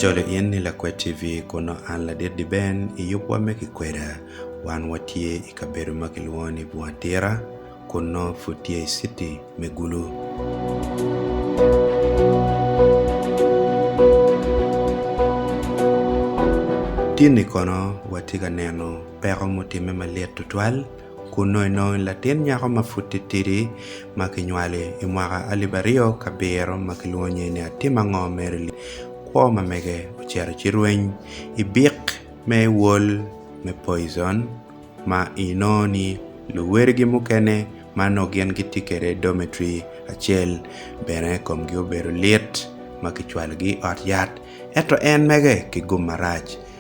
Acalo in ni Lakwed TV kono an ladit di Ben i yubwa me kikweda. Wan watye i kabedo ma kilwongo ni Bunga Tira kun nongo pud tye i citi me Gulu. Tinni kono watye ka neno peko mutimme malit tutwal. Kunnu inongo latin nyako ma pud titidi ma kinywali. I mwaka alip aryo ki abiro ma kilwongo nyinge ni Atim Ango, Mary Lee, kwo ma mege, ocito ci rweny i bik me Wol me Poison ma inongo ni luwedigi mukene ma nongo gin gitye kwede i dormitory acel bene komgi obedo lit ma kicwalogi i ot yat. Ento en mege kigum marac.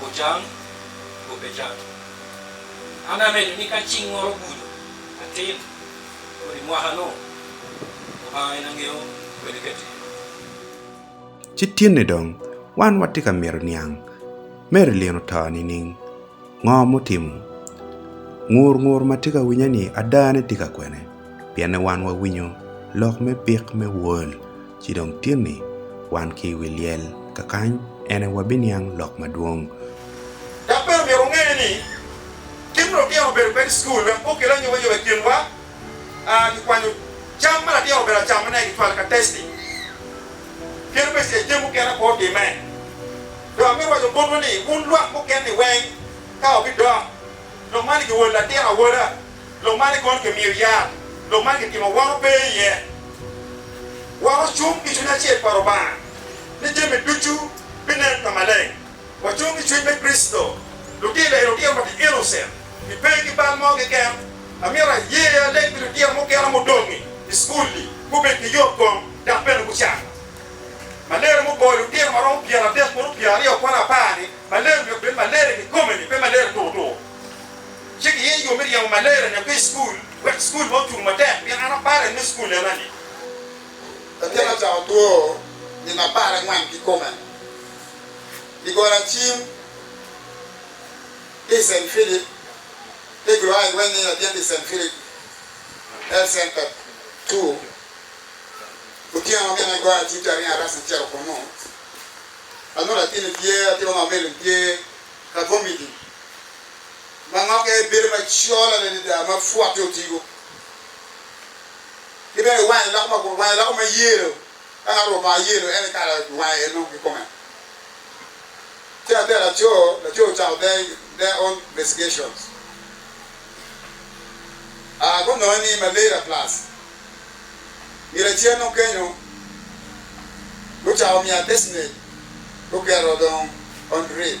gucang nyo pe cang. An areco ni ka cing moro obuto atir kodi mwaka-nu, Lubanga en angeyo kwede kati. Ci tinni dong wan watye ka mito niang Mary Lynn oto nining? Ngo mutimo? Ngur ngur ma tye ka winye-ni adane tye ka kwene? Pienne wan wawinyo lok me pik me World. Ci dong tinni, wan ki i wi lyel, ka kany en aye wabiniang lok madwong. Dok bene omyero wunge ni, kit ma lutino obedo kwede i cukul wek gukel anyobanyoba i kinwa, kikwanyo cam ma latin obedo acamone, kicwalo ka testi, kit ma icel cen mukene ape otimme. Dong amito waco botwu ni, wun lwak mukene-ni weng ka wabidok, nongo man igiwol latin awola. Lok man ni kono kimiyo yat, lok man kitimo woro pe iye. Wacung ki cwiny acel pa Lubanga ni jami ducu binen ka maleng. Wacung ki cwiny me Kricito. Lutino eni lutino ma tye innocent, gipe ki bal mo keken. Amito aye aleg pi lutino mukene mudong-ngi i cukul-li, gubed ki yotkom dok bene gucang maler. Muboyo lutino ma romo pyen adek bot pyen aryo kono apar ni maler omyero bed maler kikome-ni, pe maler tur tur. Ci giye yo me ryemo malaria nyo pi school wek school ma ocung matek pien an apare me school ena ni. Latin acako two nino apar angwen kikome i goro acim ki i Saint Philip ki gro I weng ni latin ki Saint Philip health center two otyeno ma mine goro acim ki aringo arasa acito kunu anongo latin ni tye atima ma meli ni tye ka vomiting. ma ngokke bedo macol adada ma pwotte otigo, ki bene wange loko makwar, wange loko ma yelo, ka ngat oruko bongo yelo en aye kala wange en dong kikome. Ci ate laco, laco ocako their own investigations, aa gunonge ni malaria plus ngira acel dong kenyo gucako miyo assessment guketo dong on drip.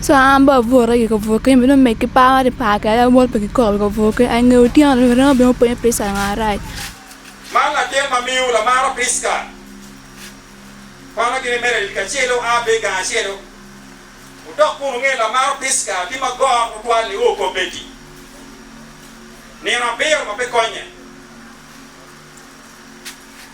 So an bene abuto i kabukke me nongo meg-gi par ma kipar kwede ma mot pe kikoko i kabukke. Ai nge otyeno-ni bene anongo obino penyo Priska langa marac. Man latin ma miyo lamaro Priska kwanogi ni Meredith kacel-le oa bene i gang acel-lu. Wudok kun wunge ni lamaro Priska tye ma got tutwal ni o kop Betty. Nino abiro ma pe konye.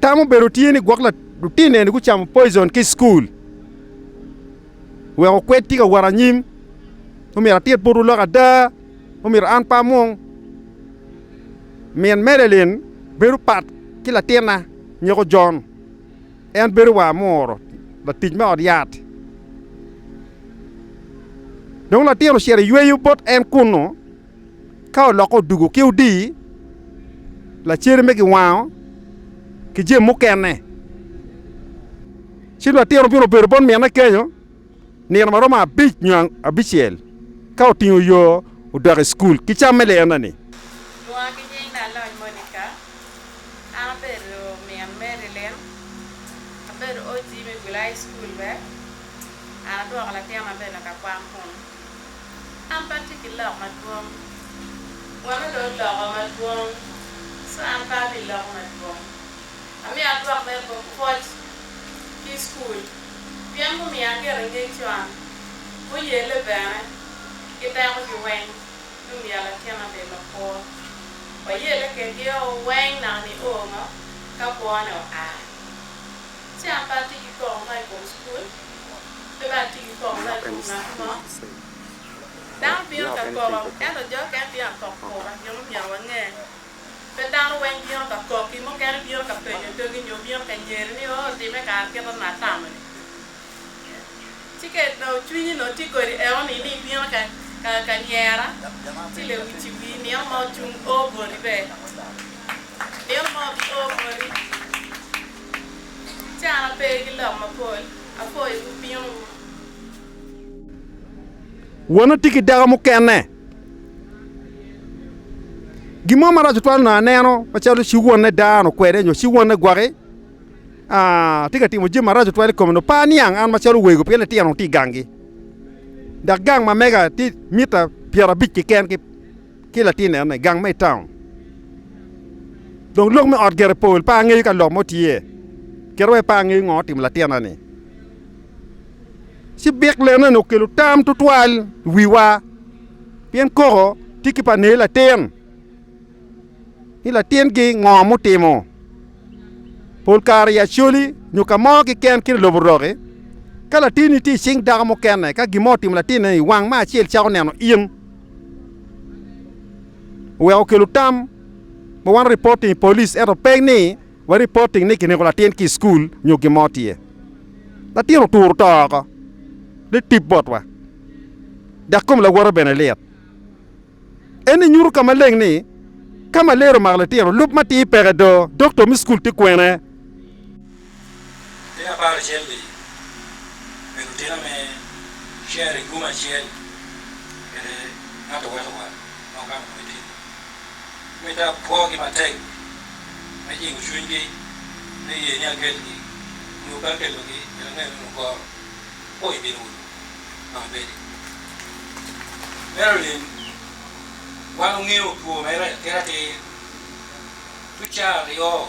Tam obedo tye ni gwok lutino eni gucamo poison ki i cukul wek okwed tye ka wot anyim. Omyero atit botwu lok ada, omyero an pe amung. Min Madeline bedo pat ki latinna nyeko John, en bedo wa amuro, latic me ot yat. Dong latin ocito yweyo bot en kunnu Ka olokke odwogo ki odii, lacere me giwango ki jami mukene, ci lwatino obino obedo bot mine kenyo nino ma romo abic nyo abicel ka otingo yo odok i cukul ki cam me liyena-ni. Lwonga ki nying da aloc Monica. An abedo min Marilyn. Abedo OG me Gwil High School bene. An adwoko latin ma bene ka kwan kunu. An pe atye ki lok madwong. Wano dong oloko madwong, ci an pe ami lok madwong. Amiyo adwok me pwoc ki i cukul pien gumiyo agito i ngec con, guyelle bene ki dekogi weng ni omyero latin abed makwo. Wayelle kedgio weng naka nio ngo ka kwone oa. Ci an pe atye ki koko ma i kom cukul, pe bene atye ki koko ma i kom ngat mo. Dano bino ka koko, ento jo okene bino ka kok kura gin ma myero wange. Pe dano weng bino ka koki, mukene bino ka penyo togi nyo bino ka nyeri ni, 'Oo, otimme kara kit ma atamo-ni? Ci ka onongo cwinyi onongo tye kodi eoni ni ibino ka nyera, ci lewici wii nino ma ocung o boti be. Nino mo obi o boti. Ticana pe ki lok mapol, apo i wu bino wu. Wano tye ki dako mukene. Gin mo marac otwal onongo aneno macalo ci wonne dano kwede nyo ci wonne gwaki tye ka timo jami marac otwal i kome onongo par niang an macalo wego pien litino onongo tye i gangi dok gang ma mega tye mita pyera abic keken ki ki latin eno i gang mo i taun. Dong lok me ot gire pol, pe angeyo ka lok mo tye. Kit ma pe angeyo ngo otimo latina-ni. Ci bik lena-ni okelo tam tutwal i wiwa pien koko tye ki panei latin ni latingi ngo mutimo. Pol kare i Acholi nyo ka mo keken kit i lobo Roki, ka latinni tye i cing dako mukene ka gin mo otimo latinne-ni, wang me acel cako neno in. oweko okelo tam ma wan reporting i police ento pe ni wa reporting ni kineko latin ki i school nyo gin mo tye. Latin oturo to oko ni tip botwa dok kom lawote bene lit. Eni nyuto ka maleng ni ka malaria omako litino lub matir peke do, doctor me school tye kwene? Te apar acel-li, obedo otina me Sherry Guma acel kede ngat owatowa ma ogamo kome tin. Mitte apwogi matek me jingo cwinygi me ye ni akelgi nyo pe akelogi kit angeyo ni mukoro apo i bino ulu dok ibedi. Marilyn, Wan ongeyo two mere kit atir tucar aryo.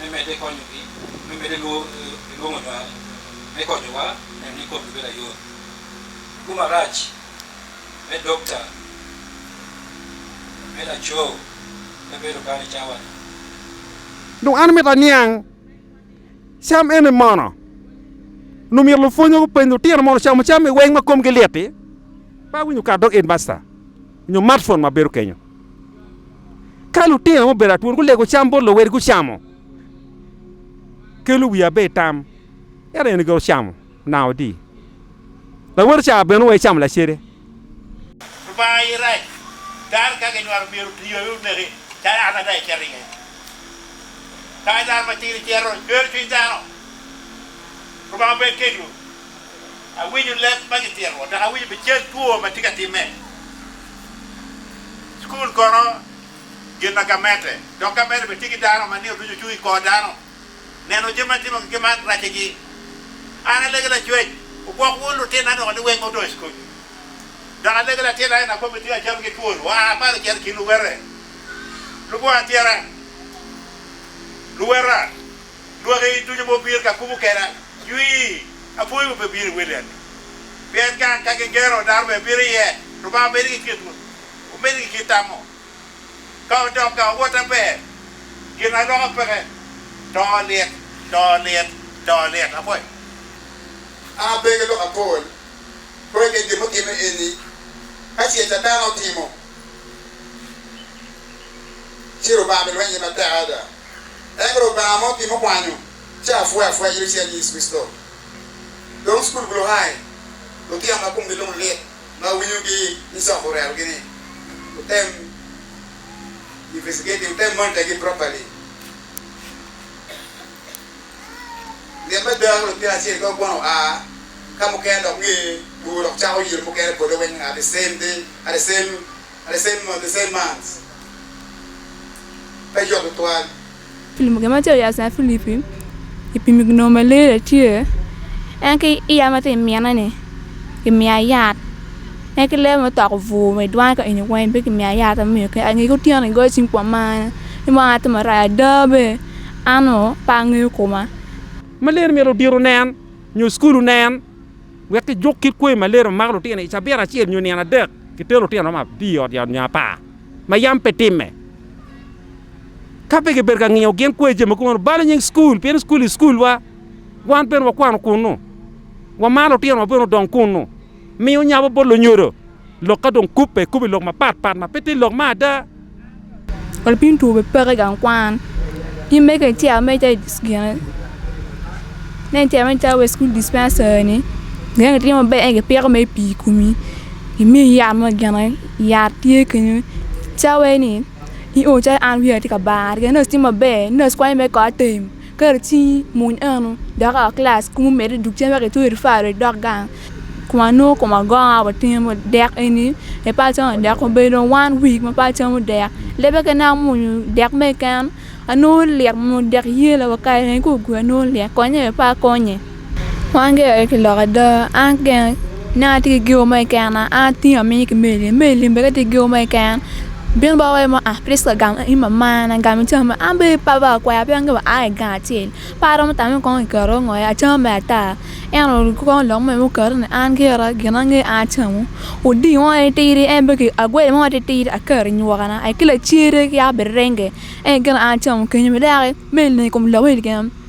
me medde konyogi me medde lwongo nywal me konyowa neno ni komgi bedo ayot. Tugo marac me dokta me laco pe bedo kany i cawa-ni. Dong an myero aniang cam eni mono? Nongo myero lupwonnywa gupeny lutino mono ocamo cam-mi weng ma komgi lit-ti? Pe awinyo kar dog Headmaster. nyo matfon ma bedo kenyo. Ka lutino ma obedo atwon gulego cam bot luwegi gucamo, kelo wiya bene i tam, ento en ogigo camo nanga odi. Lawote ca bene oweyo camo lacede. Lubanga aye rac. Dano ka kinywalo myero oti aye oneki calo an ada icito iye. Kadi dano matir icito, cwer cwiny dano. Lubanga bed kedwu. Awinyo leb ma gipyero dok awinyo bene cal two ma tye ka timme. Cukul kono gin ma gamente dok gamente bene tye ki dano ma nino ducu ocung i kor dano. Neno jami ma timogi ki man racigi. An alege lacwec, wugwok wun lutinna noko ni weng ma odong i cukul. Dok alege latinna ni nakobbe tye ka cam ki twol, wa malo cito i kin luwete. Lubongo atyera, luweta. Lwak i ducu ma obino ka kubo keda jwii, apwoyo ma pe bino i wele agi. Pien ka ka gigeno, dano bene bino iye. Lubanga omedde ki kitwu, omedde ki kit tamo. Ka odok ka owot na ber, gin aloka peke, to lit, to lit, to lit. Apwoyo. An ape ki lok apol, kore kit gin mutime eni, ka ce ca dano otimo, ci Lubanga bilweny iye matek ada. Ento Lubanga ma otimo kwanyo ci apwoyo apwoya yito cer nyo Yecu Kricito. Dong cukul gulu hai, lutino ma komgi lung lit ma winyo gi ni cok orero gi ni wutem investigating, wutem monitor gi properly. Lit me dako lutino acel ka okwano oa ka mukene dok nge gugu dok cako yelo mukene bole weng at the same day, at the same. The same month, the same months pe cok tutwal. Pimo gin macalo yac nyo Filipi ipimo ginongo malaria tye en ki iya ma tye i mine ni ki miya yat en ki lebe mutoko bwur wa idwangi ka eni weng pe ki miya yat ma miyo kene ange ki otyeno igoyo cim kwom ma an ni mo atimo maraya ada be an ongo pe angeyo koma. Malaria myero odiro nen nyo school onen. Wek kijuk kit kwe ma lee romo mako lutino i cabit acel nyo nino adek, kitero lutino romo abir i ot yat nyo apar ma yam pe timme. Ka pe kibedo ka ngiyo gin kwe jami kumeno, balo nying cukul pien cukul i cukulwa, wan bene wakwano kunnu, wamaro lutinowa bene odong kunnu, miyo nyabo bot lunyodo lok ka dong kubbe, kubbe lok mapatpat ma pe tye lok me ada. Lapiny two be peke i gang kwan in mege ice ameca wa i cukul dispensary ni inongo itimo maber ento kipiko mere pii i komi kimiyi yat mo gin aye yat tye kenyo cawa ni ioyo calo an wiya tye ka bar nurse tye maber nurse konyo mere kor atem. Ket i cingi, muny eno, dok a kilac kumi med idug cen wek itwer i faro idok gang. Kun anongo koma gonga wa tenge mo dek eni pe pe acamo dek obedo dong one week ma pe acamo dek lebe kene amuny dek me keken anongo lik mo dek yela wa kare kong ogure anongo lik konye bene pe akonye. Wan gin aye ki lok ada an gin nen atye ki geewo mo keken an atye aminy ki meli meli ni bene ka tye ki geewo mo keken bino baka waci mo ah Prisca gam in mamana gam ica ma an bene pe abala kwaya pien angeyo wa aa i gang acel pe aromo tamo ni kong kiketo ngo iye acama mere ata ento kong lok mere muketo ni an gira gin ma angeyo an acamu odii mo aye tidi en bene ki agweli mo titidi aketo inywokana aye ki lacere ki yaka birenge ento gin aye acamu kenyo bene dok i meli ni i kom lok meli keken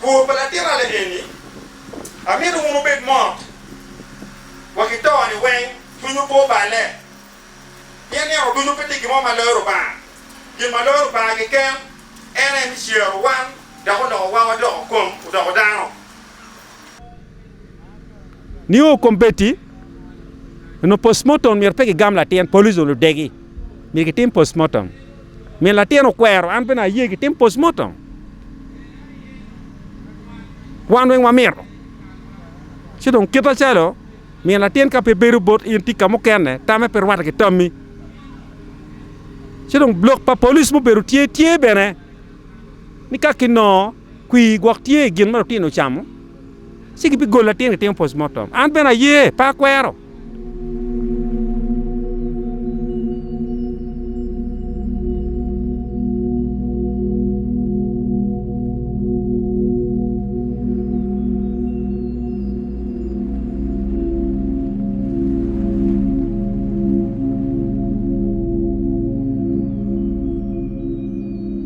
Kor pa latinane eni, amito wun wubed mot wa ki to-ni weng, cwinywu pe oballe, pien nino ducu pe tye gin mo ma loyo Lubanga. Gin ma loyo Lubanga keken en aye me cero wan dok oloko wawa doko kom odoko dano. Nio kombeddi onongo postmortem myero pe kigam latin, police onongo ludegi, myero gitim postmortem. Min latin okwero, an bene aye gitim postmortem. Wan weng wamito. Ci dong kit acalo min latin ka pe bedo bot in tika mukene, tamme pe rwate ki tammi. Ci dong lok pa police mubedo tye, tye bene ni ka kinongo Kwir gwok tye i gin ma lutino ocamo, ci gibigolo latin gitimo postmortem. An bene aye, pe akwero.